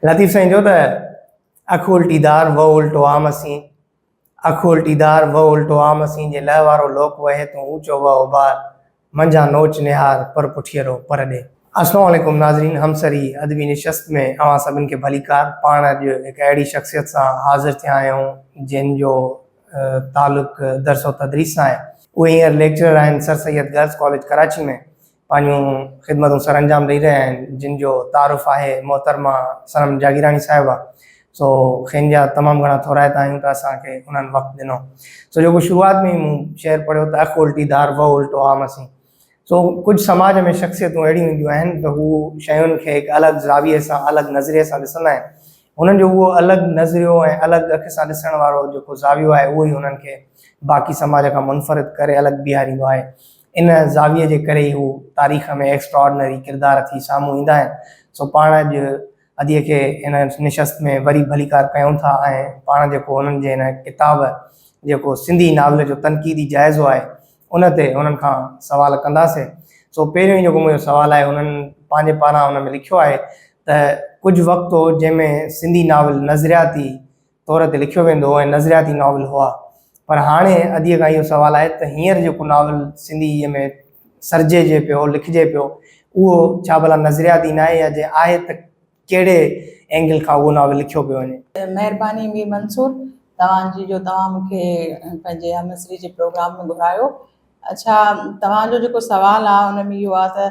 لطيف سائين چيو ته اک الٽي دار وهه الٽو عام اسين اک الٽي دار وهه الٽو عام اسين جي لهه وارو لوڪ وهي تون اوچو وهه اوڀار منجهان نوچ نهار پر پٺيرو پر ڏي. السلام عليڪم ناظرين همسر هي ادبي نشست ۾ اوهان سڀن کي ڀليڪار پاڻ اڄ هڪ اهڙي شخصيت سان حاضر ٿيا آهيون جنهن جو تعلق درس و تدريس سان آهي. اهي هينئر ليڪچرر آهن sir Syed girls college Karachi ۾ پنهنجون خدمتون سر انجام ڏئي رهيا آهن جن جو تعارف آهي محترمه صنم جاگيراڻي صاحبه سو کين جا تمام گهڻا ٿورائتا آهيون ته اسان کي انهن وقت ڏنو سو جيڪو شروعات ۾ ئي مون شعر پڙهيو ته اک الٽي ڌار وهه الٽو عام اسين سو ڪجهه سماج ۾ شخصيتون اهڙيون هونديون آهن ته هو شين کي هڪ الڳ زاويي سان الڳ نظريي سان ڏسندا آهن هنن جو اهو الڳ نظريو ۽ الڳ اک سان ڏسڻ وارو جيڪو زاويو آهي اهو ئي هنن کي باقي سماج کان منفرد ڪري الڳ بيهاريندو آهي ان زاويي جي ڪري ئي هو تاريخ ۾ ايڪسٽراڊنري ڪردار ٿي سامهون ايندا آهن سو پاڻ اڄ ادي کي هن نشست ۾ وري ڀليڪار ڪيون ٿا ۽ پاڻ جيڪو هنن جي هن ڪتاب جيڪو سنڌي ناول جو تنقيدي جائزو آهي ان تي انهن کان سوال ڪنداسي سو پهريون ئي جيڪو منهنجو سوال آهي انهن پنهنجي پاران ان ۾ لکيو آهي ته ڪجهه وقت هو جنهن ۾ سنڌي ناول نظرياتي طور تي لکيو ويندو هو ۽ نظرياتي ناول هئا پر هاڻي ادي کان اهو سوال آهي ته هينئر جيڪو ناول سنڌي ۾ سرجي جي پيو لکجي پيو اهو ڇا ڀلا نظرياتي ناهي يا جي آهي ته ڪهڙي اينگل کان اهو ناول لکيو پيو وڃي؟ مهرباني مير منصور توهان جي جو توهان مون کي پنهنجي همعصري جي پروگرام ۾ گهرايو. اڇا توهان جو جيڪو سوال آ ان ۾ اهو آ ته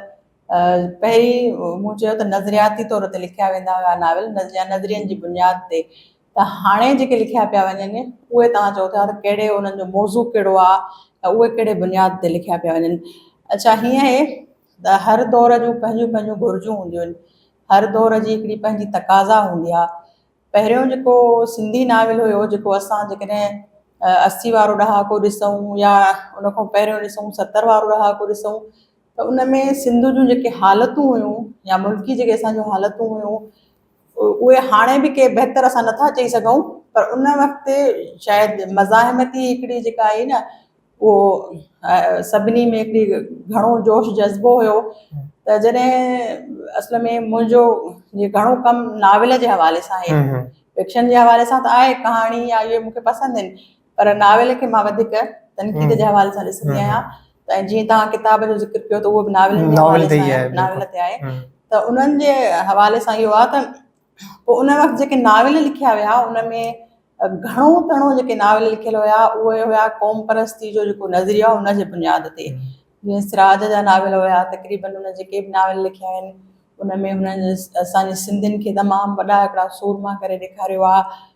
پهرين مون چيو ته نظرياتي طور تي لکيا ويندا هيا ناول يا نظرين جي بنياد تي ته هاڻي جيڪي لکيا پيا وڃن اهي توهان چئو ٿا ته ڪهڙي انهن جو موضوع ڪهڙو آ ته اهي ڪهڙي بنياد تي لکيا پيا وڃن. اڇا هيئن هي ته هر دور جون پنهنجون پنهنجون گهرجون هونديون آهن. هر دور جي هڪڙي پنهنجي تقاضا هوندي آهي. پهريون جيڪو سنڌي ناول هيو جيڪو اسان جيڪڏهن اسي وارو ڏهاڪو ڏسون يا ان کان پهريون ڏسون ستر وارو ڏهاڪو ڏسون ته ان ۾ سنڌ جون جيڪي حالتون هيون يا ملڪي جيڪي اسان جون حالتون هيون اهي هاڻي به ڪي بهتر اسان نٿا چئي سگهون پر ان وقت شايد مزاحمتي هڪڙي جيڪا آهي نه اهو سڀني ۾ هڪڙي گهڻو جوش جذبو هيو ته جڏهن اصل ۾ منهنجو جي گهڻو ڪم ناول جي حوالي سان آهي فڪشن جي حوالي سان ته آهي ڪهاڻي يا اهي مون کي پسند آهن پر ناول کي مان وڌيڪ تنقيد جي حوالي سان ڏسندي آهيان ته جيئن تهان ڪتاب جو ذڪر ڪيو ته اهو به ناول ناول تي آهي ته انهن جي حوالي سان اهو آهي ته پوء ان وقت جيڪي ناول لکيا ويا ان ۾ گهڻو تڻو جيڪي ناول لکيل هيا اهي هيا قوم پرستي جو جيڪو نظريو آهي ان جي بنياد تي جيئن سراج جا ناول هيا تقريبن هن جيڪي به ناول لکيا آهن ان ۾ هنن اسان جي سنڌين کي تمام وڏا هڪڙا سورما ڪري ڏيکاريو آهي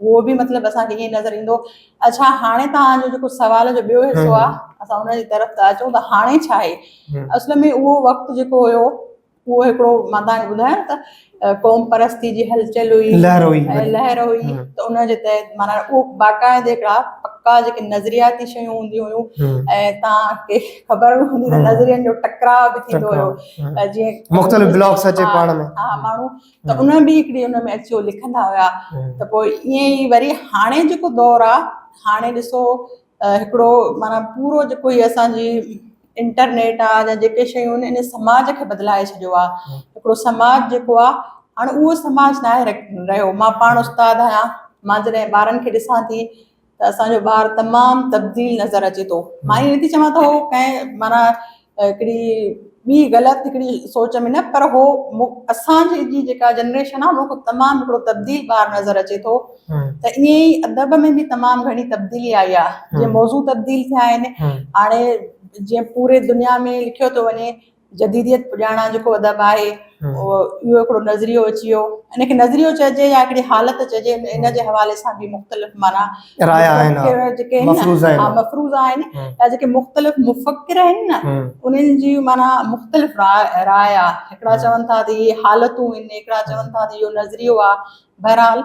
اهو به مطلب اسان کي ائين نظر ايندو اڇا هاڻي توهان جو جيڪو سوال جو ٻيو حصو آ اسان ان جي طرف ته اچون ته هاڻي ڇا آهي اصل ۾ اهو وقت جيڪو هيو اهو هڪڙو مان توهان کي ٻڌايان ته قوم پرستي جي هلچل هئي لهر هئي لهر هئي ته ان جي تحت معنی اهو باقاعده هڪڙا پڪا جيڪي نظرياتي شيون هونديون هيون ۽ توهان کي خبر به هوندي ته نظرين جو ٽڪراء به ٿيندو هيو جيئن مختلف بلاگس اچي پاڻ ۾ ها ماڻهو ته ان ۾ به هڪڙي ان ۾ اچيو لکندا هيا ته پوء ائين ئي وري هاڻي جيڪو دور آ هاڻي ڏسو هڪڙو معنيٰ پورو جيڪو هي اسانجي انٽرنيٽ آ يا جيڪي شيون ان سماج کي بدلائي ڇڏيو آ هڪڙو سماج جيڪو آ هاڻي اهو سماج ناهي رهيو مان پاڻ استاد آهيان مان جڏهن ٻارن کي ڏسان ٿي ته اسان جو ٻار تمام تبديل نظر اچي ٿو مان ائين نٿي چوان ته هو ڪنهن معنيٰ هڪڙي ٻي غلط هڪڙي سوچ ۾ نه پر هو اسان جي جيڪا جنريشن آهي ان کان تمام هڪڙو تبديل ٻار نظر اچي ٿو ته ائين ئي ادب ۾ به تمام گهڻي تبديلي آئي آهي جيئن موضوع تبديل ٿيا آهن هاڻي جيئن پوري دنيا ۾ لکيو ٿو وڃي جديديت پڄاڻان جيڪو ادب آهي اهو هڪڙو نظريو اچي ويو ان کي نظريو چئجي يا هڪڙي حالت چئجي ان جي حوالي سان به مختلف معنيٰ رايا آهن مفروضا آهن يا جيڪي مختلف مفڪر آهن نه انهن جي معنيٰ مختلف رايا هڪڙا چون ٿا ته اهي حالتون آهن هڪڙا چون ٿا ته اهو نظريو آهي بهرحال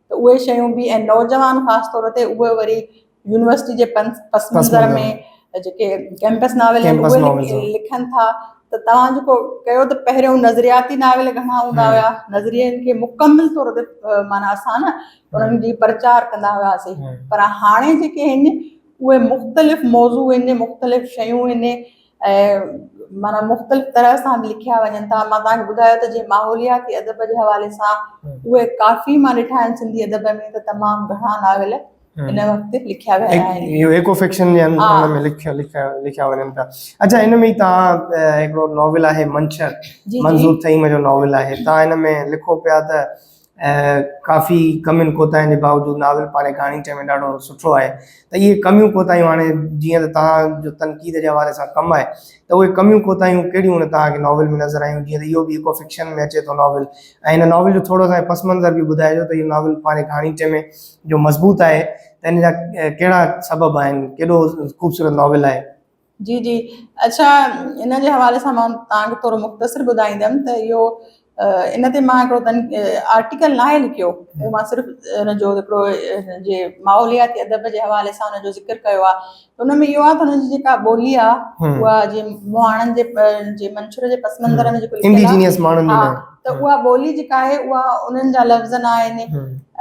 ته اهي شيون به ۽ نوجوان خاص طور تي اهي وري يونيورسٽي جي پس منظر ۾ جيڪي ڪيمپس ناول آهن اهي لکن ٿا ته توهان جيڪو ڪيو ته پهريون نظرياتي ناول گهڻا هوندا هيا نظرين کي مڪمل طور تي معنيٰ اسان نه انهن جي پرچار ڪندا هياسين پر هاڻي جيڪي آهن اهي مختلف موضوع آهن مختلف شيون آهن ۽ معنيٰ مختلف طرح سان به لکيا وڃن ٿا مان تهان کي ٻڌايو ته جي ماحولياتي ادب جي حوالي سان اهي ڪافي مان ڏٺا آهن سنڌي ادب ۾ ته تمام گهڻا ناول ان وقت لکيا ويا آهن اهو ايڪو فڪشن جي اندر ۾ لکيا لکيا لکيا وڃن ٿا اچا ان ۾ تهان هڪڙو ناول آهي منڇر منظور ٿهيم جو ناول آهي تهان ان ۾ لکو پيا ته ۽ ڪافي ڪمين ڪوتاهين جي باوجود ناول پاڙهي ڪهاڻي چئي ۾ ڏاڍو سٺو آهي ته اهي ڪميون ڪوتاهيون هاڻي جيئن ته توهان جو تنقيد جي حوالي سان ڪم آهي ته اهي ڪميون ڪوتاهيون ڪهڙيون ان توهان کي ناول ۾ نظر آيون جيئن ته اهو به ايڪو فڪشن ۾ اچي ٿو ناول ۽ هن ناول جو ٿورو سا پس منظر به ٻڌائجو ته اهو ناول پاڙهي ڪهاڻي چئي ۾ جو مضبوط آهي ته ان جا ڪهڙا سبب آهن ڪيڏو خوبصورت ناول آهي. جي جي اڇا ان جي حوالي سان مان توهان کي ٿورو مختصر ٻڌائيندم ته اهو ان تي مان هڪڙو تن آرٽيڪل نه آهي لکيو اهو مان صرف ان جو هڪڙو جي ماحولياتي ادب جي حوالي سان ان جو ذڪر ڪيو آهي ان ۾ اهو آهي ته ان جي جيڪا ٻولي آهي اها جي مهاڻن جي جي منشور جي پس منظر ۾ جيڪو لکيل آهي انڊيجينئس ماڻهن ۾ ته اها ٻولي جيڪا آهي اها انهن جا لفظ نه آهن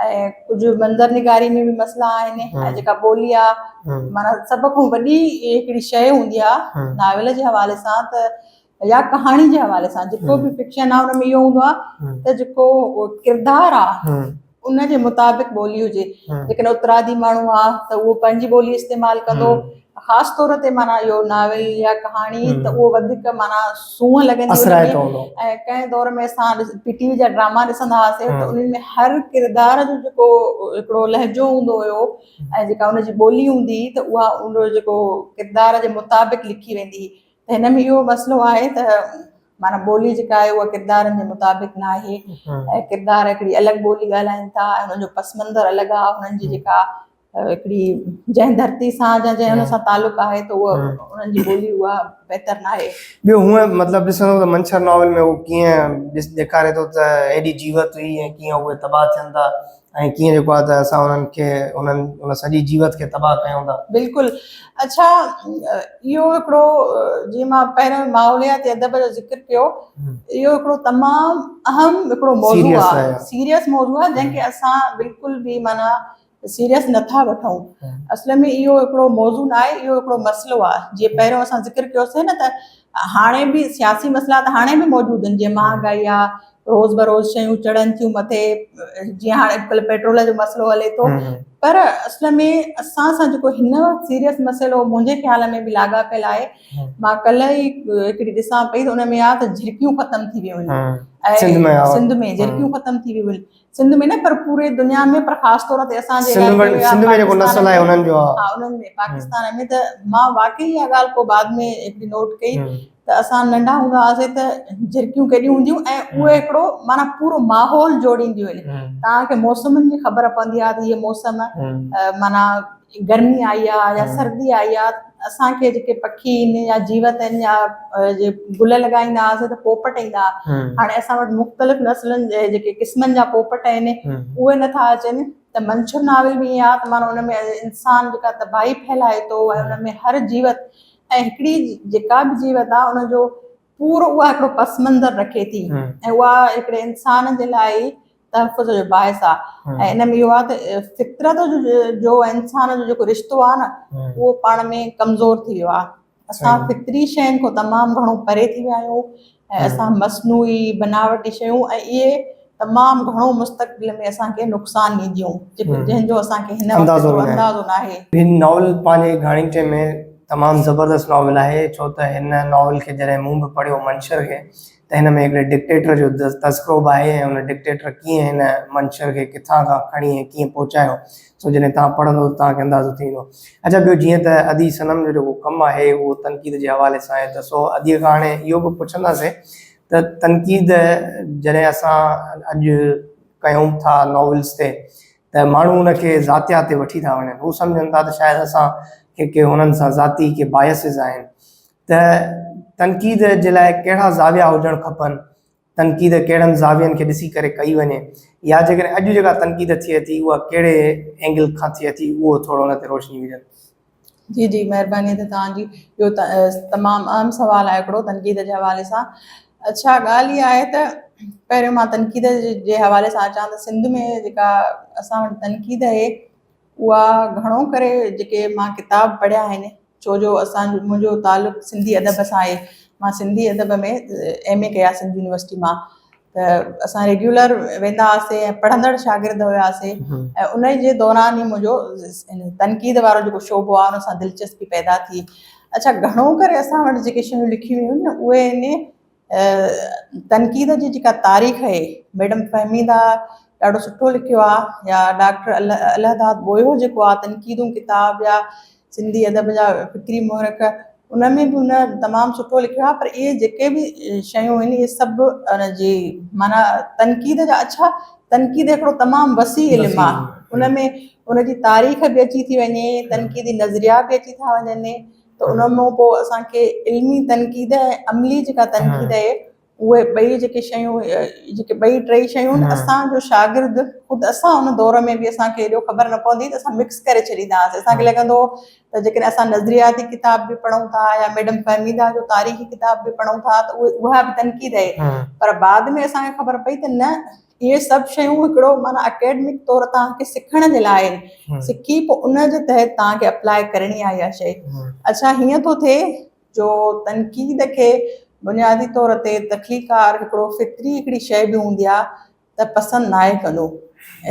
۽ ڪجهه منظر نگاري ۾ به مسئلا آهن ۽ جيڪا ٻولي آهي معنيٰ سڀ کان وڏي هڪڙي شيء هوندي آهي ناول جي حوالي سان ته يا ڪهاڻي جي حوالي سان جيڪو به فڪشن آهي ان ۾ اهو هوندو آهي ته جيڪو ڪردار آهي ان جي مطابق ٻولي هجي جيڪڏهن اترادي ماڻهو آ ته اهو پنهنجي ٻولي استعمال ڪندو خاص طور تي معنيٰ اهو ناول يا ڪهاڻي ته اهو وڌيڪ معنيٰ سونهن لڳندي اثرائتو هوندو ۽ ڪنهن دور ۾ اسان پي ٽي وي جا ڊراما ڏسندا هئاسين ته انهن ۾ هر ڪردار جو جيڪو هڪڙو لهجو هوندو هيو ۽ جيڪا ان جي ٻولي هوندي هئي ته اها ان جو جيڪو ڪردار جي مطابق لکي ويندي هئي ته هن ۾ اهو مسئلو آهي ته معنيٰ ٻولي جيڪا آهي اها ڪردارن جي مطابق نه آهي ۽ ڪردار هڪڙي الڳ ٻولي ڳالهائين ٿا ۽ انهن جو پس منظر الڳ آهي انهن جي جيڪا هڪڙي جنهن ڌرتي سان جا جنهن ان سان تعلق آهي ته اها انهن جي ٻولي اها بهتر نه آهي ٻيو هونء مطلب ڏسندو ته منڇر ناول ۾ هو ڪيئن ڏيکاري ٿو ته هيڏي جيوت هئي ۽ ڪيئن اهي تباهه ٿين ٿا ائين ڪيئن جيڪو آهي ته اسان انهن کي انهن ان سڄي جيوت کي تباهه ڪيون ٿا. بلڪل اڇا اهو هڪڙو جي مان پهريون ماحولياتي ادب جو ذڪر ڪيو اهو هڪڙو تمام اهم هڪڙو موضوع آهي سيريس موضوع آهي جنهن کي اسان بلڪل به معنيٰ سيريس نه ٿا وٺون اصل ۾ اهو هڪڙو موضوع نه آهي اهو هڪڙو مسئلو آهي جي پهريون اسان ذڪر ڪيوسين نه ته هاڻي به سياسي مسئلا ته هاڻي به موجود آهن جي مهانگائي آهي روز بروز شيون چڙهن ٿيون مٿي جيئن هاڻي اڄڪلهه پيٽرول جو مسئلو هلي ٿو پر اصل ۾ اسان سان جيڪو هن وقت سيريس مسئلو منهنجي خيال ۾ به لاڳاپيل آهي مان ڪلهه ئي هڪڙي ڏسان پئي ته ان ۾ آ ته جهرڪيون ختم ٿي ويون آهن سنڌ ۾ جهرڪيون ختم ٿي ويون آهن سنڌ ۾ نه پر پوري دنيا ۾ پر خاص طور تي اسان جي سنڌ ۾ علائقي ۾ يا سنڌ ۾ جيڪو پاڪستان نسل آهي ۾ انهن جو ها ها انهن ۾ پاڪستان ۾ ته مان واقعي اها ڳالهه پوء بعد ۾ هڪڙي نوٽ ڪئي هم ته اسان ننڍا هوندا هئاسين ته جهرڪيون ڪيڏيون هونديون ۽ اهي هم هڪڙو معنيٰ پورو ماحول جوڙينديون آهن هم توهان کي موسمن جي خبر پوندي آهي ته هيء موسم هم معنيٰ گرمي آئي آ يا سردي آئي آ اسان کي جيڪي پکي ان يا جيوت ان يا جي گل لڳائيندا آ سو ته پوپٽ ايندا آ هاڻي اسان وٽ مختلف نسلن جي جيڪي قسمن جا پوپٽ اين اوهي نه ٿا اچن ته منڇر ناول ۾ ايئن آ ته مانو ان ۾ انسان جيڪا تباهي ڦهلائي ٿو ۽ ان ۾ هر جيوت ۽ هڪڙي جيڪا به جيوت آ ان جو پورو اها هڪڙو پس منظر رکي ٿي ۽ اها هڪڙي انسان جي لاء ئي تحفظ جو باعث آهي ۽ ان ۾ اهو آهي ته فطرت جو انسان جو جيڪو رشتو آهي نه اهو پاڻ ۾ ڪمزور ٿي ويو آهي اسان فطري شين کان تمام گهڻو پري ٿي ويا آهيون ۽ اسان مصنوعي بناوٽي شيون ۽ اهي تمام گهڻو مستقبل ۾ اسان کي نقصان ڏينديون، جنهن جو اسان کي هن وقت جو اندازو ناهي. هي ناول پنهنجي گهاڻيٽي ۾ تمام زبردست ناول آهي، ڇو ته هن ناول کي جڏهن مون به پڙهيو منشر کي ته هن ۾ هڪڙي ڊڪٽيٽر جو تذڪرو به آهي ۽ ان ڊڪٽيٽر ڪيئن هن منشر کي ڪٿان کان کڻي ۽ ڪيئن پهچايو سو جڏهن توهان پڙهندو ته توهان کي اندازو ٿي ويندو. اڇا ٻيو جيئن ته ادي صنم جو جيڪو ڪم آهي اهو تنقيد جي حوالي سان آهي ته سو اديء کان هاڻي اهو به پڇنداسين ته تنقيد جڏهن اسان اڄ ڪيون ٿا ناولز تي ته ماڻهو ان کي ذاتيات تي وٺي ٿا وڃن هو سمجهن ٿا ته شايد اسان کي ڪي هنن سان ذاتي ڪي بايسز آهن ته تنقيد جي لاء ڪهڙا زاويا هجڻ کپن تنقيد ڪهڙن زاوين کي ڏسي ڪري ڪئي وڃي يا جيڪڏهن اڄ جيڪا تنقيد ٿئي ٿي اها ڪهڙي اينگل کان ٿئي ٿي اهو ٿورو ان تي روشني وجهن. جي جي مهرباني ته توهان جي اهو تمام اهم سوال آهي هڪڙو تنقيد جي حوالي سان اڇا ڳالهه اها آهي ته پهريون مان تنقيد جي حوالي سان اچان ته سنڌ ۾ جيڪا اسان وٽ تنقيد اهي اها گهڻو ڪري جيڪي مان ڪتاب پڙهيا آهن ڇو جو اسان جو منهنجو تعلق سنڌي ادب سان آهي مان سنڌي ادب ۾ ايم اي ڪيا سنڌ يونيورسٽي مان ته اسان ريگيولر ويندا هئاسين ۽ پڙهندڙ شاگرد هياسين ۽ ان جي دوران ئي منهنجو تنقيد وارو جيڪو شعبو آهي ان سان دلچسپي پيدا ٿي اڇا گهڻو ڪري اسان وٽ جيڪي شيون لکيون ويون آهن اهي ان تنقيد جي جيڪا تاريخ اهي ميڊم فهميده ڏاڍو سٺو لکيو آهي يا ڊاڪٽر الهداد ٻوهيو جيڪو آهي تنقيدون ڪتاب يا سنڌي ادب جا فڪري محرڪ ان ۾ به هن تمام سٺو لکيو آهي پر اهي جيڪي به شيون آهن اهي سڀ ان جي معنيٰ تنقيد جا اڇا تنقيد هڪڙو تمام وسيع علم آهي ان ۾ ان جي تاريخ به اچي ٿي وڃي تنقيدي نظريا به اچي ٿا وڃن ته ان مون پوء اسان کي علمي تنقيد عملي جيڪا تنقيد آهي اهي ٻئي جيڪي شيون جيڪي ٻئي ٽئي شيون نه اسان جو شاگرد خود اسان ان دور ۾ به اسان کي ايڏو خبر نه پوندي ته اسان مڪس ڪري ڇڏيندا هئاسين اسان کي لڳندو هو ته جيڪڏهن اسان نظرياتي ڪتاب به پڙهون ٿا يا ميڊم فهميده جو تاريخي ڪتاب به پڙهون ٿا ته اهي اها به تنقيد آهي پر بعد ۾ اسان کي خبر پئي ته نه اهي سڀ شيون هڪڙو معنيٰ اڪيڊمڪ طور توهان کي سکڻ جي لاء آهن سکي پوء ان جي تحت توهان کي اپلاء ڪرڻي آهي اها شيء اڇا هيئن ٿو ٿئي جو تنقيد کي بنيادي طور تي تخليقڪار هڪڙو فطري هڪڙي شيء به هوندي آ ته پسند ناهي ڪندو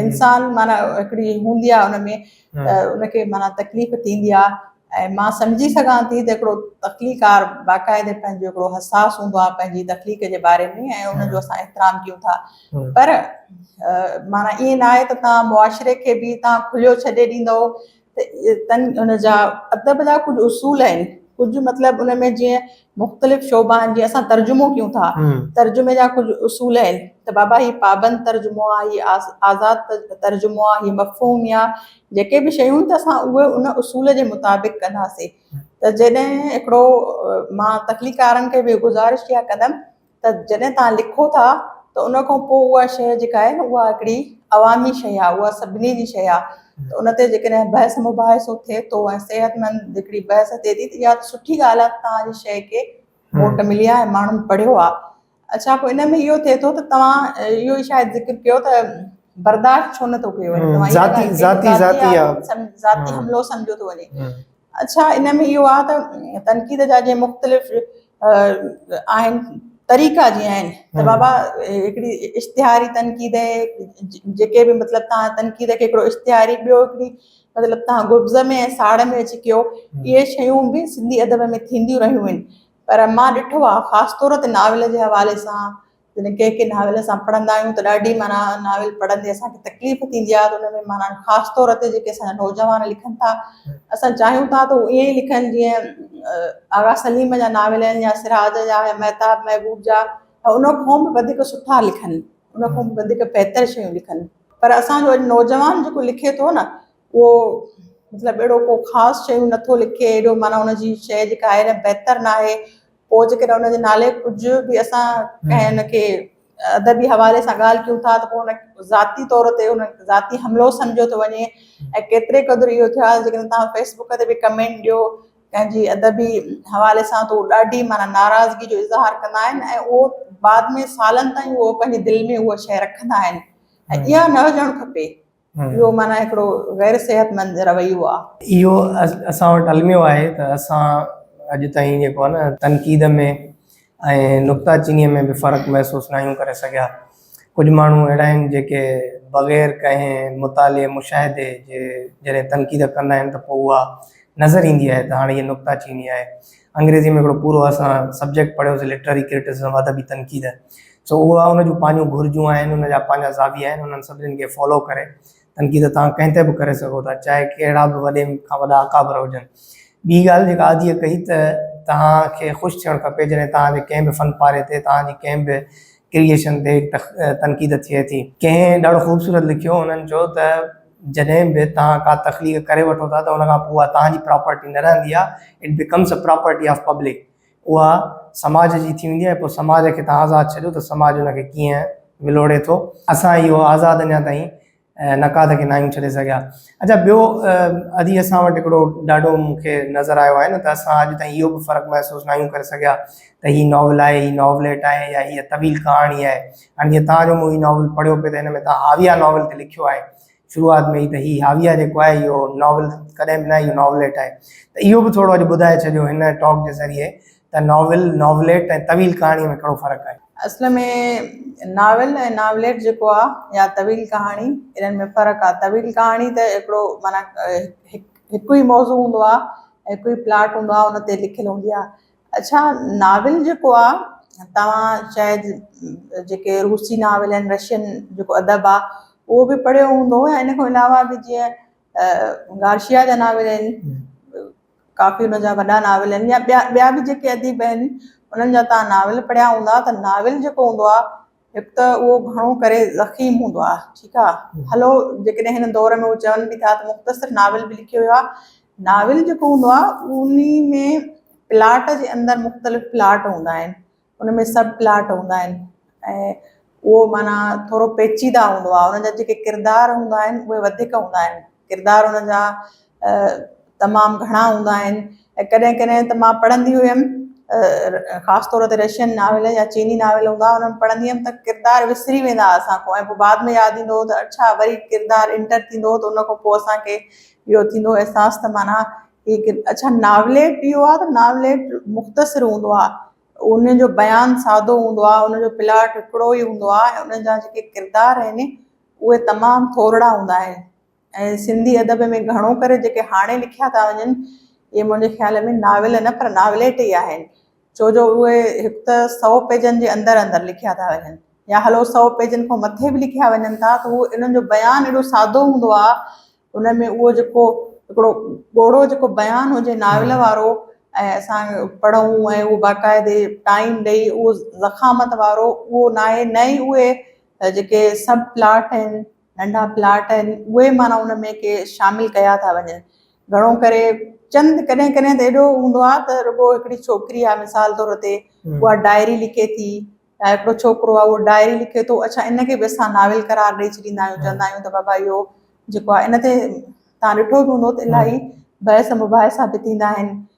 انسان معنيٰ هڪڙي هوندي آ ان ۾ ته ان کي معنيٰ تڪليف ٿيندي آ ۽ مان سمجهي سگهان ٿي ته هڪڙو تخليقڪار باقاعدي پنهنجو هڪڙو حساس هوندو آ پنهنجي تخليق جي باري ۾ ۽ ان جو اسان احترام ڪيون ٿا پر معنيٰ ائين ناهي ته توهان معاشري کي به توهان کليو ڇڏي ڏيندؤ تن ان جا ادب جا ڪجهه اصول آهن ڪجهه مطلب ان ۾ جيئن مختلف شعبا آهن جيئن اسان ترجمو ڪيون ٿا ترجمي جا ڪجهه اصول آهن ته بابا هي پابند ترجمو آهي هي آزاد ترجمو آهي هي مفهوم يا جيڪي به شيون ته اسان اهي ان اصول جي مطابق ڪنداسين ته جڏهن هڪڙو مان تخليقارن کي به گذارش اها ڪندم ته جڏهن توهان لکو ٿا ته ان کان پوء اها شيء جيڪا آهي نه اها هڪڙي عوامي شيء آهي اها سڀني جي شيء آهي ته ان تي جيڪڏهن بحث مباحثو ٿئي ٿو ۽ صحت مند هڪڙي بحث ٿئي ٿي ته اها ته سٺي ڳالهه آهي ته توهان جي شيء کي ووٽ ملي آهي ماڻهن پڙهيو آهي اڇا پوء ان ۾ اهو ٿئي ٿو ته توهان اهو ئي شايد ذڪر ڪيو ته برداشت ڇو نٿو ڪيو وڃي توهان ذاتي ذاتي ذاتي حملو سمجهيو ٿو وڃي اڇا ان ۾ اهو آهي ته تنقيد جا جي مختلف آهن طريقا جي آهن ته بابا هڪڙي اشتهاري تنقيد جيڪي به مطلب تان تنقيد کي هڪڙو اشتهاري ٻيو هڪڙي مطلب تان گبز ۾ ساڙ ۾ اچي ڪيو اهي شيون به سنڌي ادب ۾ ٿينديون رهيون آهن پر مان ڏٺو آهي خاص طور تي ناول جي حوالي سان جڏهن ڪنهن ڪنهن ناول اسان پڙهندا آهيون ته ڏاڍي معنيٰ ناول پڙهندي اسان کي تڪليف ٿيندي آهي ته ان ۾ معنيٰ خاص طور تي جيڪي اسان جا نوجوان لکن ٿا اسان چاهيون ٿا ته هو ائين ئي لکن جيئن آغا سليم جا ناول آهن يا سراج جا يا مهتاب محبوب جا ان کان به وڌيڪ سٺا لکن ان کان به وڌيڪ بهتر شيون لکن پر اسان جو نوجوان جيڪو لکي ٿو نه اهو مطلب اهڙو ڪو خاص شيون نٿو لکي اهڙو معنيٰ ان جي شيء جيڪا آهي نه بهتر ناهي پوء جيڪڏهن ان جي نالي ڪجهه به اسان ڪنهن ان کي ادبي حوالي سان ڳالهه ڪيون ٿا ته پوء ان کي ذاتي طور تي ان کي ذاتي حملو سمجهيو ٿو وڃي ۽ ڪيتري قدر اهو ٿيو آهي جيڪڏهن توهان فيس بڪ تي به ڪمينٽ ڏيو ڪنهن جي ادبي حوالي سان ته اهو ڏاڍي معنيٰ ناراضگي جو اظهار ڪندا آهن ۽ اهو بعد ۾ سالن تائين اهو پنهنجي دل ۾ اهو شيء رکندا آهن ۽ اها نه هجڻ کپي اهو معنيٰ هڪڙو غير صحتمند رويو آ. اهو اسان وٽ الميو آهي ته اسان اڄ تائين جيڪو آ نه تنقيد ۾ ۽ نڪته چينيء ۾ به فرق محسوس ناهيون ڪري سگهيا. ڪجهه ماڻهو اهڙا آهن جيڪي بغير ڪنهن مطالعي مشاهدي جي جڏهن تنقيد ڪندا آهن ته پوء اها نظر ايندي آهي ته هاڻ هيء نڪته چيني آهي. انگريزيء ۾ هڪڙو پورو اسان سبجيڪٽ پڙهيوسين لٽرري ڪرٽسزم، ادبي تنقيد. سو اها ان جون پنهنجون گهرجون آهن، ان جا پنهنجا زاويا آهن، انهن سڀني کي فالو ڪري تنقيد توهان ڪنهن تي به ڪري سگهو ٿا، چاهي ڪهڙا به وڏي کان وڏا اڪابر هجن. ٻي ڳالهه جيڪا عاديء ڪئي ته توهان کي خوش ٿيڻ کپي جڏهن توهان جي ڪنهن به فن پاري تي، توهان جي ڪنهن به ڪريئيشن تي تنقيد ٿئي ٿي. ڪنهن ڏاڍو خوبصورت لکيو، هن چيو ته. جڏهن به توهان ڪا تخليق ڪري وٺو ٿا ته ان کان پوء اها توهان جي پراپرٽي نه رهندي آهي، It becomes a property of public، اها سماج جي ٿي ويندي آهي، پوء سماج کي توهان آزاد ڇڏيو ته سماج ان کي ڪيئن ولوڙي ٿو. اسان اهو آزاد اڃا تائين نقاد کي ناهيون ڇڏي سگهيا. اچا ٻيو ادي اسان وٽ هڪڙو ڏاڍو مون کي نظر آيو آهي نه ته اسان اڄ تائين اهو به فرق محسوس ناهيون ڪري سگهيا ته هي ناول آهي، هي ناوليٽ آهي يا هيء طويل ڪهاڻي آهي. هاڻي جيئن توهان جو مون هي ناول پڙهيو پئي ته هن ۾ توهان هاويه ناول تي لکيو آهي شروعات ۾ ئي ته هي هاويه جيڪو آهي اهو ناول ڪڏهن به نه اهو ناوليٽ آهي ته اهو به ٿورو اڄ ٻڌائي ڇڏيو هن ٽاڪ جي ذريعي ته ناول ناوليٽ ۽ طويل ڪهاڻي ۾ ڪهڙو فرق آهي. اصل ۾ ناول ۽ ناوليٽ جيڪو آهي يا طويل ڪهاڻي انهن ۾ فرق آهي طويل ڪهاڻي ته هڪڙو معنيٰ هڪ ئي موضوع هوندو آهي هڪ ئي پلاٽ هوندو آهي ان تي لکيل هوندي آهي اڇا ناول جيڪو آ توهان شايد جيڪي روسي ناول آهن رشين جيڪو ادب آ اهو به پڙهيو هوندو ۽ ان کان علاوه به جيئن گارشيا جا ناول آهن ڪافي ان جا وڏا ناول آهن يا ٻيا ٻيا به جيڪي اديب آهن انهن جا تان ناول پڙهيا هوندا ته ناول جيڪو هوندو آ هڪ ته اهو گهڻو ڪري ضخيم هوندو آهي، ٺيڪ آهي، هلو جيڪڏهن هن دور ۾ هو چون به ٿا ته مختصر ناول به لکي ويو آهي، ناول جيڪو هوندو آهي انهي ۾ پلاٽ جي اندر مختلف پلاٽ هوندا آهن، ان ۾ سب پلاٽ هوندا آهن ۽ اهو معنيٰ ٿورو پيچيده هوندو آهي، ان جا جيڪي ڪردار هوندا آهن اهي وڌيڪ هوندا آهن. ڪردار ان جا تمام گهڻا هوندا آهن ۽ ڪڏهن ڪڏهن ته مان پڙهندي هيم خاص طور تي رشين ناول يا چيني ناول هوندا هئا ان ۾ پڙهندي هيم ته ڪردار وسري ويندا هئا اسان کان ۽ پوء بعد ۾ ياد ايندو هو ته اڇا وري ڪردار انٽر ٿيندو هو ته ان کان پوء اسان کي اهو ٿيندو هو احساس ته معنيٰ هي اڇا ناوليٽ اهو آهي ته ناوليٽ مختصر هوندو آهي ان جو بيان سادو هوندو آهي ان جو پلاٽ هڪڙو ئي هوندو آهي ۽ ان جا جيڪي ڪردار آهن اهي تمام ٿورڙا هوندا آهن ۽ سنڌي ادب ۾ گهڻو ڪري جيڪي هاڻي لکيا ٿا وڃن اهي منهنجي خيال ۾ ناول نه پر ناوليٽ ئي آهن ڇو جو اهي هڪ ته سؤ پيجن جي اندر اندر لکيا ٿا وڃن يا هلو سؤ پيجن کان مٿي به لکيا وڃن ٿا ته اهو انهن جو بيان اهڙو سادو هوندو آهي ان ۾ اهو جيڪو هڪڙو ڳوڙهو جيڪو بيان هجي ناول وارو ۽ اسان پڙهون ۽ اهو باقاعدي ٽائيم ڏئي اهو زخامت وارو اهو ناهي نه ئي اهي ته جيڪي سب پلاٽ آهن ننڍا پلاٽ آهن اهي معنيٰ ان ۾ ڪي شامل ڪيا ٿا وڃن گهڻو ڪري چند ڪڏهن ڪڏهن ته اهڙو هوندو آهي ته رڳو هڪڙي ڇوڪري آهي مثال طور تي اها ڊائري لکي ٿي يا هڪڙو ڇوڪرو آهي اهو ڊائري لکي ٿو اڇا ان کي به اسان ناول قرار ڏئي ڇڏيندا آهيون چوندا آهيون ته بابا اهو جيڪو آهي ان تي تان ڏٺو به هوندو ته الاهي بحث مباحثا به ٿيندا آهن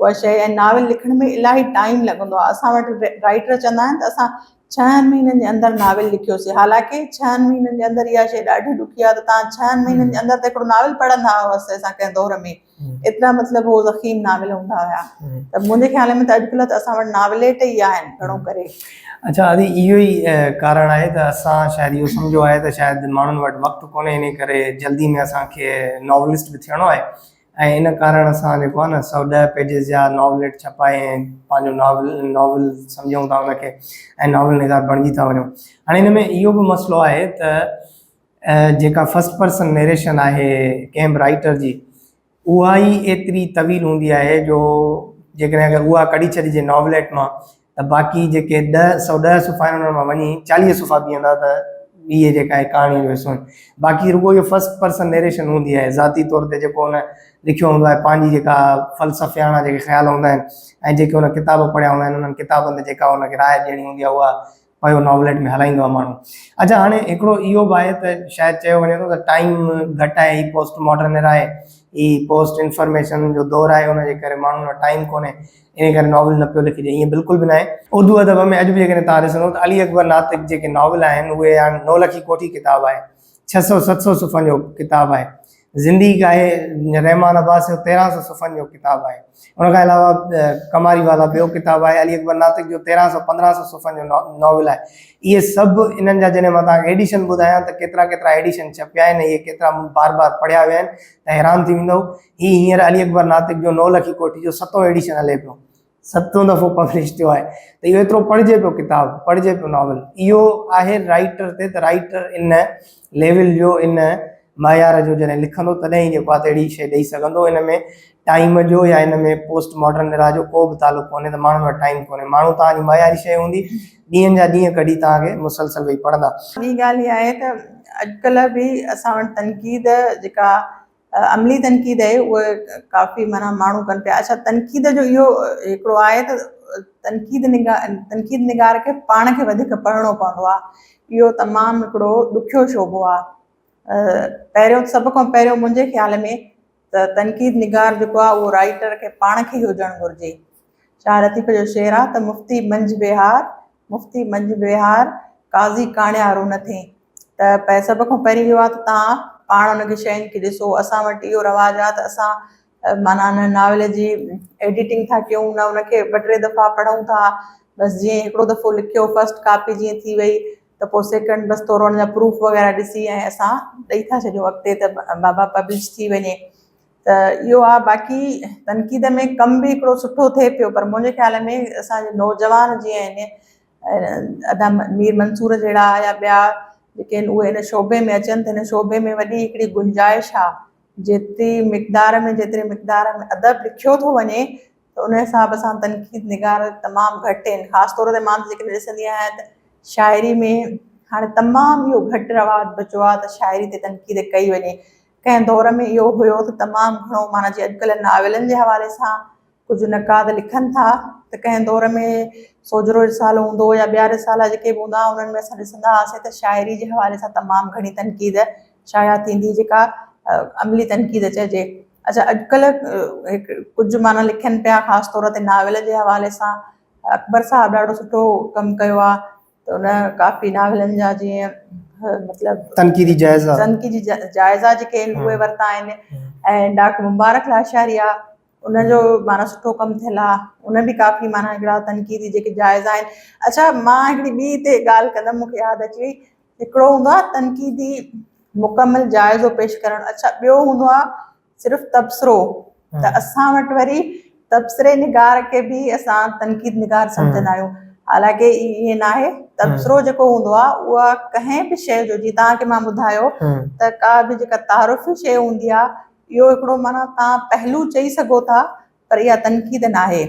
اها شيء ۽ ناول لکڻ ۾ الاهي ٽائيم لڳندو آهي اسان وٽ رائٽر چوندا آهن ته اسان ڇهن مهينن جي اندر ناول لکيوسي حالانڪه ڇهن مهينن جي اندر اها شيء ڏاڍي ڏکي آهي ته تان ڇهن مهينن جي اندر ته هڪڙو ناول پڙهندا هئس اسان ڪنهن دور ۾ ايترا مطلب هو زخيم ناول هوندا هيا ته منهنجي خيال ۾ ته اڄڪلهه ته اسان وٽ ناوليٽ ئي آهن گهڻو ڪري اچا ادي اهو ئي ڪارڻ آهي ته اسان شايد اهو سمجهيو آهي ته شايد ماڻهن وٽ وقت ڪونهي انهي ڪري جلدي ۾ اسان کي ناولسٽ به ٿيڻو آهي ۽ ان ڪارڻ اسان جيڪو آهي نه سؤ ڏهه پيجز جا ناوليٽ ڇپائي ۽ پنهنجو ناول ناول سمجهون ٿا ان کي ۽ ناول نگار بڻجي ٿا وڃون هاڻي ان ۾ اهو به مسئلو آهي ته جيڪا فسٽ پرسن نيريشن آهي ڪنهن به رائيٽر جي اها ئي ايتري طويل هوندي آهي جو جيڪڏهن اگر اها ڪڍي ڇڏجي ناوليٽ مان ته باقي جيڪي ڏهه سؤ ڏهه صفحا آهن انهن مان وڃي چاليهه صفحا بيهندا ته ٻي جيڪا آهي ڪهاڻي جو حصو آهن باقي رڳو اهو فرسٽ پرسن نيريشن هوندي آهي ذاتي طور تي جيڪو هن لکيو هوندو آهي پنهنجي جيڪا فلسفياڻا جيڪي خيال هوندا آهن ۽ جيڪي هن ڪتاب پڙهيا هوندا آهن انهن ڪتابن تي جيڪا هن کي راء ڏيڻي هوندي آهي اها پيو ناوليٽ ۾ هلائيندو آهي ماڻهو اچا هاڻي هڪڙو اهو به آهي ته شايد چيو وڃي ٿو ته ٽائيم گهٽ آهي هي پوسٽ ماڊرن ايرا آهي هي پوسٽ انفارميشن جو دور آهي ان جي ڪري ماڻهن وٽ ٽائيم ڪونهي انهيء ڪري ناول نه پيو لکجي، ائين بلڪل به ناهي. اردو ادب ۾ اڄ به جيڪڏهن توهان ڏسندؤ ته علي اڪبر ناطق جيڪي ناول آهن، اهي يا نولکي ڪوٺي ڪتاب آهي، ڇهه سؤ ست سؤ صفحن جو ڪتاب آهي، زندگي ڪا هي يا رحمان عباس جو تيرهن سؤ صفحن جو ڪتاب آهي. ان کان علاوه ڪماري والا ٻيو ڪتاب آهي، علي اڪبر ناطق جو تيرهن سؤ پندرهن سؤ صفحن جو ناول آهي. اهي سڀ انهن جا جڏهن مان توهان کي ايڊيشن ٻڌايان ته ڪيترا ڪيترا ايڊيشن ڇپيا آهن ۽ اهي ڪيترا مون بار بار پڙهيا ويا آهن ته حيران ٿي ويندؤ. هي هينئر علي اڪبر ناطق جو نو لکي ڪوٺي جو ستون ايڊيشن هلي پيو ستون دفعو پبلش ٿيو آهي ته اهو ايترو پڙهجي پيو ڪتاب پڙهجي پيو ناول اهو آهي رائيٽر تي ته رائيٽر ان ليول جو ان معيار جو جڏهن لکندو تڏهن ئي جيڪو آهي اهڙي شيء ڏئي سگهندو ان ۾ ٽائيم جو يا ان ۾ پوسٽ ماڊرن ايرا جو ڪو به تعلق ڪونهي ته ماڻهن وٽ ٽائيم ڪونهي ماڻهو توهان جي معياري شيء هوندي ڏينهن جا ڏينهن ڪڍي توهان کي مسلسل ويهي پڙهندا. ٻي ڳالهه اها آهي ته اڄڪلهه به اسان وٽ تنقيد جيڪا عملي تنقيد اهي اهي ڪافي معنيٰ ماڻهو ڪن پيا اڇا تنقيد جو اهو هڪڙو آهي ته تنقيد نگا تنقيد نگار کي پاڻ کي وڌيڪ پڙهڻو پوندو آهي اهو تمام هڪڙو ڏکيو شعبو آهي پهريون سڀ کان پهريون منهنجي خيال ۾ ته تنقيد نگار جيڪو آهي اهو رائيٽر کي پاڻ کي ئي هجڻ گهرجي شاهه لطيف جو شعر آهي ته مفتي منجهه ويهار مفتي منجهه ويهار قاضي ڪاڻيارو نه ٿين ته پهه سڀ کان پهرين اهو آهي ته تهان پاڻ ان کي شين کي ڏسو اسان وٽ اهو رواج آهي ته اسان معنيٰ ان ناول جي ايڊيٽنگ ٿا ڪيون نه ان کي ٻه ٽي دفعا پڙهون ٿا بس جيئن هڪڙو دفعو لکيو فسٽ ڪاپي جيئن ٿي وئي ته پوء سيڪنڊ بس ٿورو ان جا پروف وغيره ڏسي ۽ اسان ڏئي ٿا ڇڏيون اڳتي ته بابا پبلش ٿي وڃي ته اهو آهي باقي تنقيد ۾ ڪم به هڪڙو سٺو ٿئي پيو پر منهنجي خيال ۾ اسان جي نوجوان جيئن ادا مير منصور جهڙا يا ٻيا جيڪي آهن اهي ان شعبي ۾ اچن ته ان شعبي ۾ وڏي هڪڙي گنجائش آهي جيتري مقدار ۾ جيتري مقدار ۾ ادب لکيو ٿو وڃي ته ان حساب سان تنقيد نگار تمام گهٽ آهن خاص طور تي مان جيڪڏهن ڏسندي آهيان ته شاعري ۾ هاڻي تمام اهو گهٽ رواج بچو آهي ته شاعري تي تنقيد ڪئي وڃي ڪنهن دور ۾ اهو هيو ته تمام گهڻو معنيٰ جي اڄڪلهه ناولن جي حوالي سان ڪجهه نقاد لکن ٿا ته ڪنهن دور ۾ سوجهرو رسالو هوندو هو يا ٻيا رسالا جيڪي به هوندا هئا انهن ۾ اسان ڏسندا هئاسين ته شاعري جي حوالي سان تمام گهڻي تنقيد شايع ٿيندي جيڪا عملي تنقيد چئجي اچا اڄڪلهه ڪجهه معنيٰ لکن پيا خاص طور تي ناول جي حوالي سان اڪبر صاحب ڏاڍو سٺو ڪم ڪيو آهي ته ان ڪافي ناولن جا جيئن مطلب تنقيدي جائزا تنقيدي جائزا جيڪي آهن اهي ورتا آهن ۽ ڊاڪٽر مبارڪ لاشاري آهي ان جو معنيٰ سٺو ڪم ٿيل آ ان ۾ ڪافي معنيٰ هڪڙا تنقيدي جيڪي جائزا آهن اڇا مان هڪڙي ٻي هتي ڳالهه ڪندم مونکي ياد اچي وئي هڪڙو هوندو آ تنقيدي مڪمل جائزو پيش ڪرڻ اڇا ٻيو هوندو آ صرف تبصرو ته اسان وٽ وري تبصري نگار کي به اسان تنقيد نگار سمجهندا آهيون حالانڪه ائين ناهي تبصرو جيڪو هوندو آ اها ڪنهن به شيء جو جي توهان کي مان ٻڌايو ته ڪا به جيڪا تعارفي شيء هوندي آ اهو هڪڙو معنيٰ توهان پهلو چئي سگهو ٿا پر اها تنقيد ناهي.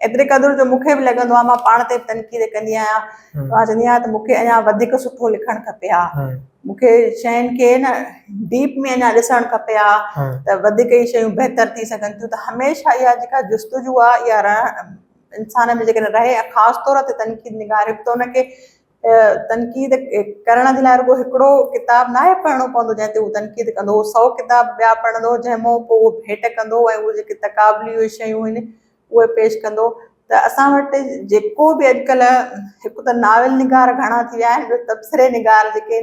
ايتري قدر جو مون کي به لڳندو آهي مان پاڻ تي به تنقيد ڪندي آهيان مان چوندي آهيان ته مون کي اڃا وڌيڪ سٺو لکڻ کپي ها مون کي شين کي نه ڊيپ ۾ اڃا ڏسڻ کپي ها ته وڌيڪ ئي شيون بهتر ٿي سگهن ٿيون ته هميشه اها جيڪا جستجو آهي اها انسان ۾ جيڪڏهن رهي خاص طور تي تنقيد نگار هڪ ته ان کي تنقيد ڪرڻ جي لاء رڳو هڪڙو ڪتاب ناهي پڙهڻو پوندو جنهن تي هو تنقيد ڪندو هو سؤ ڪتاب ٻيا پڙهندو جنهن مون پوء هو ڀيٽ ڪندو ۽ اهي جيڪي تقابلي اهي شيون آهن اهي پيش ڪندو ته اسان وٽ جيڪو به اڄڪلهه هڪ ته ناول نگار گهڻا ٿي ويا آهن ٻيو تبصري نگار جيڪي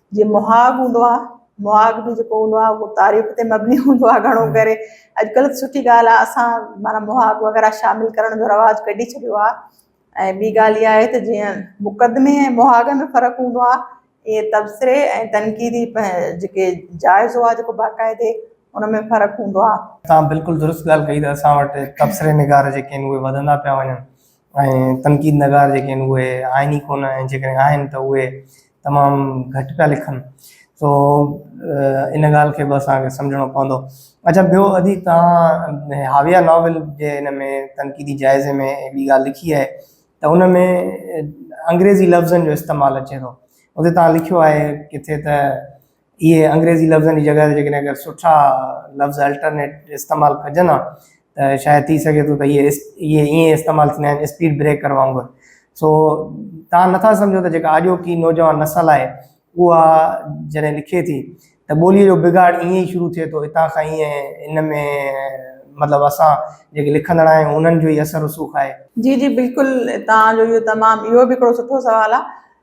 جي مهاڳ هوندو آهي مهاڳ به جيڪو هوندو آهي اهو تاريخ تي مبني هوندو آهي گهڻو ڪري اڄڪلهه ته سٺي ڳالهه آهي اسان معنيٰ مهاڳ وغيره شامل ڪرڻ جو رواج ڪڍي ڇڏيو آهي ۽ ٻي ڳالهه اها آهي ته جيئن مقدمي ۽ مهاڳ ۾ فرق هوندو آهي ائين تبصري ۽ تنقيدي جيڪي جائزو آهي جيڪو باقاعدي ان ۾ فرق هوندو آهي. تان بلڪل درست ڳالهه ڪئي ته اسان وٽ تبصري نگار جيڪي آهن اهي وڌندا پيا وڃن ۽ تنقيد نگار جيڪي آهن اهي آهن ئي ڪونه ۽ جيڪڏهن آهن ته اهي تمام گهٽ پيا لکن سو ان ڳالهه کي به اسان کي سمجهڻو پوندو اڇا ٻيو ادي توهان هاويا ناول جي ان ۾ تنقيدي جائزي ۾ ٻي ڳالهه لکي آهي ته ان ۾ انگريزي لفظن جو استعمال اچي ٿو اتي توهان لکيو آهي ڪٿي ته اهي انگريزي لفظن جي جڳهه تي جيڪڏهن اگر سٺا لفظ الٽرنيٽ استعمال ڪجن ها ته شايد ٿي سگهي ٿو ته اهي اهي ائين استعمال ٿيندا آهن اسپيڊ بريڪر وانگر سو تان نٿا سمجهو ته جيڪا آجوڪي نوجوان نسل آهي اها جڏهن لکي ٿي ته ٻوليء جو بگاڙ ائين ئي شروع ٿئي ٿو هتان کان ائين ان ۾ مطلب اسان جيڪي لکندڙ آهيون انهن جو ئي اثر رسوخ آهي. جي جي بلڪل توهان جو اهو تمام اهو به هڪڙو سٺو سوال آ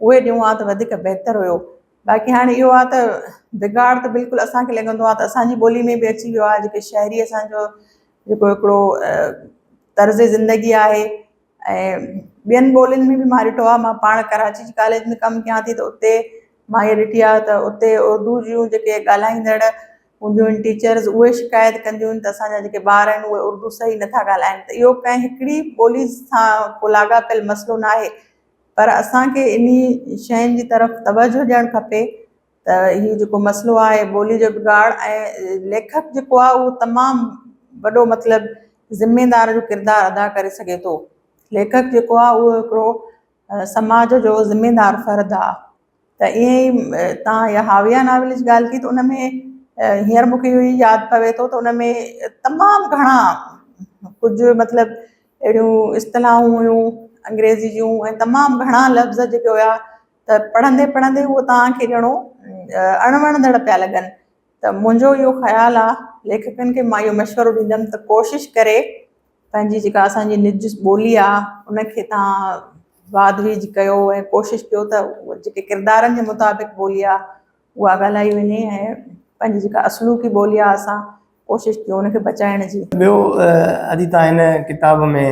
اهي ڏيون ها ته وڌيڪ بهتر هيو باقي هاڻي اهو آ ته بگاڙ ته بلڪل اسان کي لڳندو آ ته اسان جي ٻولي ۾ به اچي ويو آ جيڪي شهري اسان جو جيڪو هڪڙو طرز زندگي آهي ۽ ٻين ٻولين ۾ به مان ڏٺو آ مان پاڻ ڪراچي جي ڪاليج ۾ ڪم ڪيان ٿي ته اتي مان هي ڏٺي آ ته اتي اردو جون جيڪي ڳالهائيندڙ هونديون آهن ٽيچرز اهي شڪايت ڪنديون آهن ته اسان جا جيڪي ٻار آهن اهي اردو صحيح نٿا ڳالهائين ته اهو ڪنهن هڪڙي ٻولي سان ڪو لاڳاپيل مسئلو ناهي پر اسان کي انهي شين جي طرف توجه ڏيڻ کپي ته هي جيڪو مسئلو آهي ٻولي جو بگاڙ ۽ ليکڪ جيڪو آهي اهو تمام وڏو مطلب ذميدار جو ڪردار ادا ڪري سگهي ٿو. ليکڪ جيڪو آهي اهو هڪڙو سماج جو ذميدار فرد آهي. ته ائين ئي تان اها حاويه ناول جي ڳالهه ڪئي ته ان ۾ هينئر مون کي اهو ئي ياد پوي ٿو ته ان ۾ تمام گهڻا ڪجهه مطلب اهڙيون اصطلاحون هيون انگريزي جون ۽ تمام گهڻا لفظ جيڪي هيا ته پڙهندي پڙهندي هو تان کي ڄڻو اڻ وڻندڙ پيا لڳن ته منهنجو اهو خيال آ ليکڪن کي مان اهو مشورو ڏيندم ته ڪوشش ڪري پنهنجي جيڪا اسان جي نج ٻولي آ ان کي تان واڌ ويج ڪيو ۽ ڪوشش ڪيو ته جيڪي ڪردارن جي مطابق ٻولي آ اها ڳالهائي وڃي ۽ پنهنجي جيڪا اصلوڪي ٻولي آ اسان ڪوشش ڪيو ان کي بچائڻ جي. ٻيو ادي تان هن ڪتاب ۾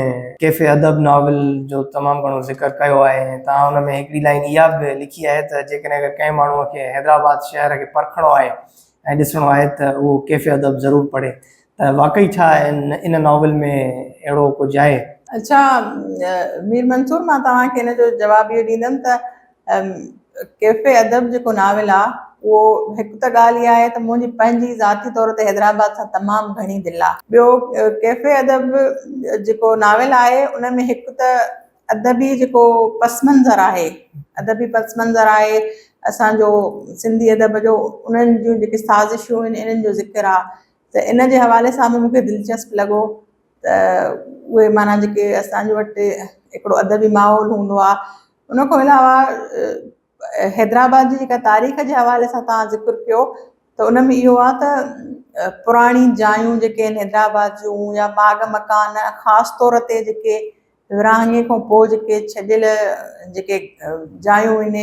ڪيف ادب ناول جو تمام گهڻو ذڪر ڪيو آهي ۽ تان ان ۾ هڪڙي لائين اها به لکي آهي ته جيڪڏهن اگر ڪنهن ماڻهو کي حيدرآباد شهر کي پرکڻو آهي ۽ ڏسڻو آهي ته اهو ڪيف ادب ضرور پڙهي ته واقعي ڇا ان ناول ۾ اهڙو ڪجهه آهي؟ اڇا مير منصور مان توهان کي ان جو جواب اهو ڏيندم ته ڪيفي ادب جيڪو ناول آهي اهو هڪ ته ڳالهه اها آهي ته منهنجي پنهنجي ذاتي طور تي حيدرآباد سان تمام گهڻي دل آهي. ٻيو ڪيفي ادب جيڪو ناول آهي ان ۾ هڪ ته ادبي جيڪو پس منظر آهي ادبي پس منظر آهي اسان جو سنڌي ادب جو انهن جون جيڪي سازشون آهن انهن جو ذڪر آهي ته ان جي حوالي سان به مونکي دلچسپ لڳو ته اهي معنيٰ جيڪي اسان جي وٽ هڪڙو ادبي ماحول هوندو آ ان کان علاوه حيدرآباد جي جيڪا تاريخ جي حوالي سان توهان ذڪر ڪيو ته ان ۾ اهو آ ته پراڻي جايون جيڪي آهن حيدرآباد جون يا باغ مڪان خاص طور تي جيڪي ورهاڱي کان پوء جيڪي ڇڏيل جيڪي جايون هن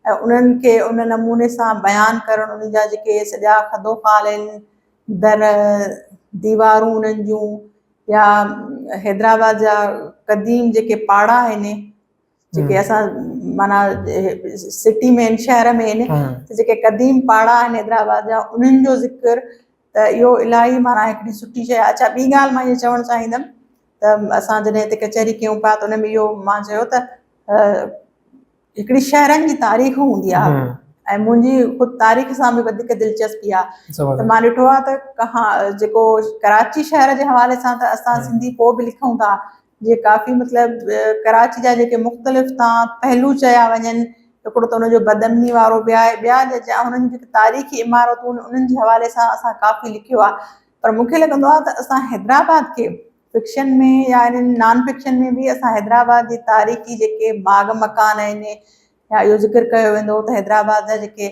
۽ انهن کي ان نموني سان بيان ڪرڻ انهن جا جيڪي سڄا خدوخال آهن در ديوارون انهن جون يا حيدرآباد جا قديم جيڪي پاڙا آهن جيڪي اسان مانا سٽي ۾ شهر ۾ آهن جيڪي قديم پاڙا آهن حيدرآباد جا انهن جو ذڪر ته اهو الاهي معنيٰ هڪڙي سٺي شيء آهي. اڇا ٻي ڳالهه مان اهي چوڻ چاهيندم ته اسان جڏهن هتي ڪچهري ڪيون پيا ته ان ۾ اهو مان چيو ته هڪڙي شهرن جي تاريخ هوندي آهي ۽ منهنجي خود تاريخ سان به وڌيڪ دلچسپي آهي ته مان ڏٺو آهي ته ڪها جيڪو ڪراچي شهر جي حوالي سان ته اسان سنڌي پوء به لکون ٿا جي ڪافي مطلب ڪراچي جا جيڪي مختلف تان پهلو چيا وڃن هڪڙو ته ان جو بدامني وارو به آهي ٻيا جيڪي انهن جي تاريخي عمارتون انهن جي حوالي سان اسان ڪافي لکيو آهي پر مون کي لڳندو آهي ته اسان حيدرآباد کي فڪشن ۾ يا انهن نان فڪشن ۾ به اسان حيدرآباد جي تاريخي جيڪي باغ مڪان آهن يا اهو ذڪر ڪيو ويندو ته حيدرآباد جا جيڪي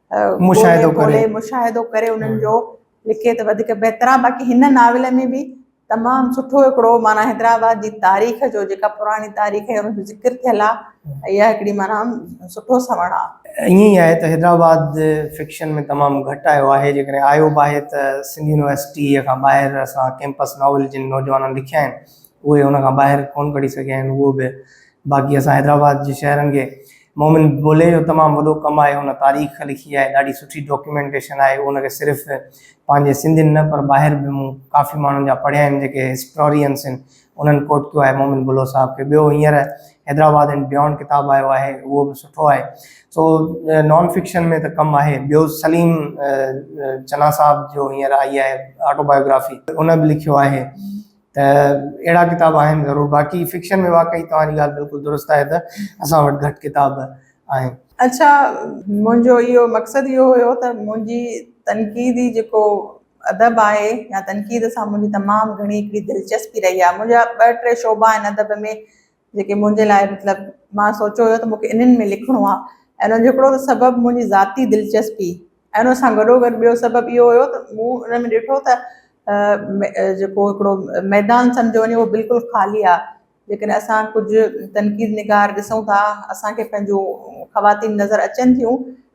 مشاهدو ڪري مشاهدو ڪري انهن جو لکي ته وڌيڪ بهتر آهي باقي هن ناول ۾ به تمام سٺو هڪڙو معنيٰ حيدرآباد جي تاريخ جو جيڪا پراڻي تاريخ جو ذڪر ٿيل آهي اها هڪڙي معنيٰ سٺو سوڻ آهي ائين ئي آهي ته حيدرآباد فڪشن ۾ تمام گهٽ آيو آهي جيڪڏهن آيو به آهي ته سنڌ يونيورسٽيء کان ٻاهر اسان ڪيمپس ناول جن نوجوانن لکيا آهن اهي ان کان ٻاهر ڪونه ڪڍي سگهيا آهن اهو به باقي اسان حيدرآباد جي شهرن کي مومن بولي جو تمام وڏو ڪم آهي ان تاريخ لکي آهي ڏاڍي سٺي ڊاڪيومينٽيشن آهي ان کي صرف پنهنجي سنڌين نه پر ٻاهر به مون ڪافي ماڻهن جا پڙهيا آهن جيڪي هسٽورينس آهن انهن ڪوٽ ڪيو آهي مومن بلو صاحب کي ٻيو هينئر حيدرآباد اينڊ بيونڊ ڪتاب آيو آهي اهو به سٺو آهي سو نان فڪشن ۾ ته ڪم آهي ٻيو سليم چنا صاحب جو هينئر آئي آهي آٽو بايوگرافي ان به لکيو آهي ته اهڙا ڪتاب آهن ضرور باقي فڪشن ۾ واقعي توهان جي ڳالهه بلڪل درست آهي ته اسان وٽ گهٽ ڪتاب آهن. اچا منهنجو اهو مقصد اهو هيو ته منهنجي تنقيدي جيڪو ادب آهي يا تنقيد سان منهنجي تمام گهڻي هڪڙي دلچسپي رهي آهي منهنجا ٻه ٽي شعبا آهن ادب ۾ جيڪي منهنجي لاء مطلب مان سوچيو هيو ته مونکي انهن ۾ لکڻو آ ۽ ان جو هڪڙو ته سبب منهنجي ذاتي دلچسپي ۽ ان سان گڏو گڏ ٻيو سبب اهو هيو ته مون ان ۾ ڏٺو ته جيڪو هڪڙو ميدان سمجهيو وڃي اهو بلڪل خالي آ ليڪن اسان ڪجهه تنقيد نگار ڏسون ٿا اسانکي پنهنجون خواتين نظر اچن ٿيون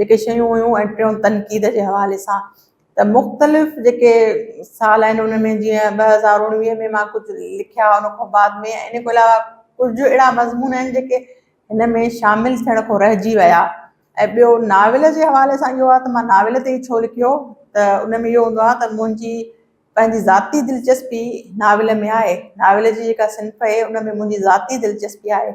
جيڪي شيون هيون ۽ ٽيون تنقيد جي حوالي سان ته مختلف جيڪي سال آهن ان ۾ جيئن ٻه هزار اڻويهه ۾ مان ڪجهه لکيا ان کان بعد ۾ ان کان علاوه ڪجهه اهڙا مضمون آهن جيڪي هن ۾ شامل ٿيڻ کان رهجي ويا ۽ ٻيو ناول جي حوالي سان اهو ته مان ناول تي ڇو لکيو ته ان ۾ اهو هوندو آهي ته منهنجي پنهنجي ذاتي دلچسپي ناول ۾ آهي ناول جي جيڪا صنف آهي ان ۾ منهنجي ذاتي دلچسپي آهي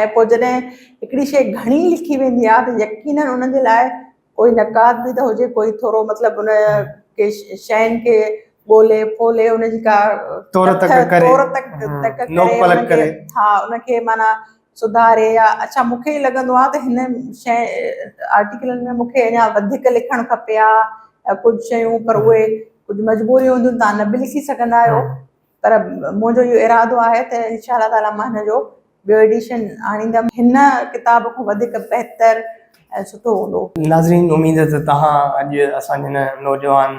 ۽ پوء جڏهن هڪڙي شيء گهڻي لکي ويندي آهي ته يقينن ان جي لاء ڪوئي نقاد به ته هجي ڪوئي ٿورو مطلب ان کي شين کي ڳولي ڦولي ان جي ڪا تور تڪ ڪري تور تڪ تڪ نوڪ پلٽ ڪري ها ان کي معنيٰ سڌاري يا اڇا مون کي لڳندو آهي ته هن شين آرٽيڪلن ۾ مون کي اڃا وڌيڪ لکڻ کپي ها ڪجهه شيون پر اهي ڪجهه مجبوريون هونديون تان نه به لکي سگهندا آهيو پر منهنجو اهو ارادو آهي ته انشاء الله تعاليٰ مان هن جو ٻيو ايڊيشن آڻيندم. هن ڪتاب کان وڌيڪ بهتر ۽ سٺو هوندو. ناظرين اميد آهي ته توهان اڄ اسان جي هن نوجوان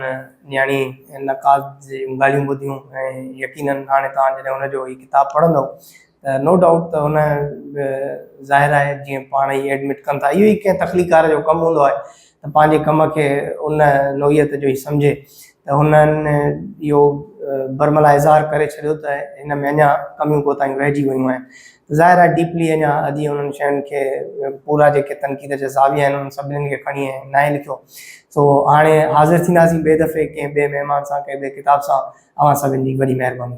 نياڻي نقاد جون ڳالهيون ٻڌيون ۽ يقينن هاڻي توهان جڏهن هن جو هي ڪتاب پڙهندؤ ته نو ڊائوٽ ته هن به ظاهر آهي جيئن پاڻ ئي ايڊمٽ ڪن ٿا اهو ئي ڪنهن تخليقڪار جو ڪم هوندو آهي ته پنهنجي ڪم کي ان نوعيت جو ئي سمجهي ته هنن اهو برملا اظهار ڪري ڇڏيو ته هن ۾ اڃا ڪميون ڪوتاهيون رهجي ويون آهن ته ظاهر آهي ڊيپلي اڃا اڄ انهن شين کي پورا جيڪي تنقيد جا زاويا آهن انهن سڀني کي کڻي ناهي لکيو سو هاڻي حاضر ٿينداسين ٻئي دفعي ڪنهن ٻئي مهمان سان ڪنهن ٻئي ڪتاب سان اوهان سڀن جي وڏي مهرباني.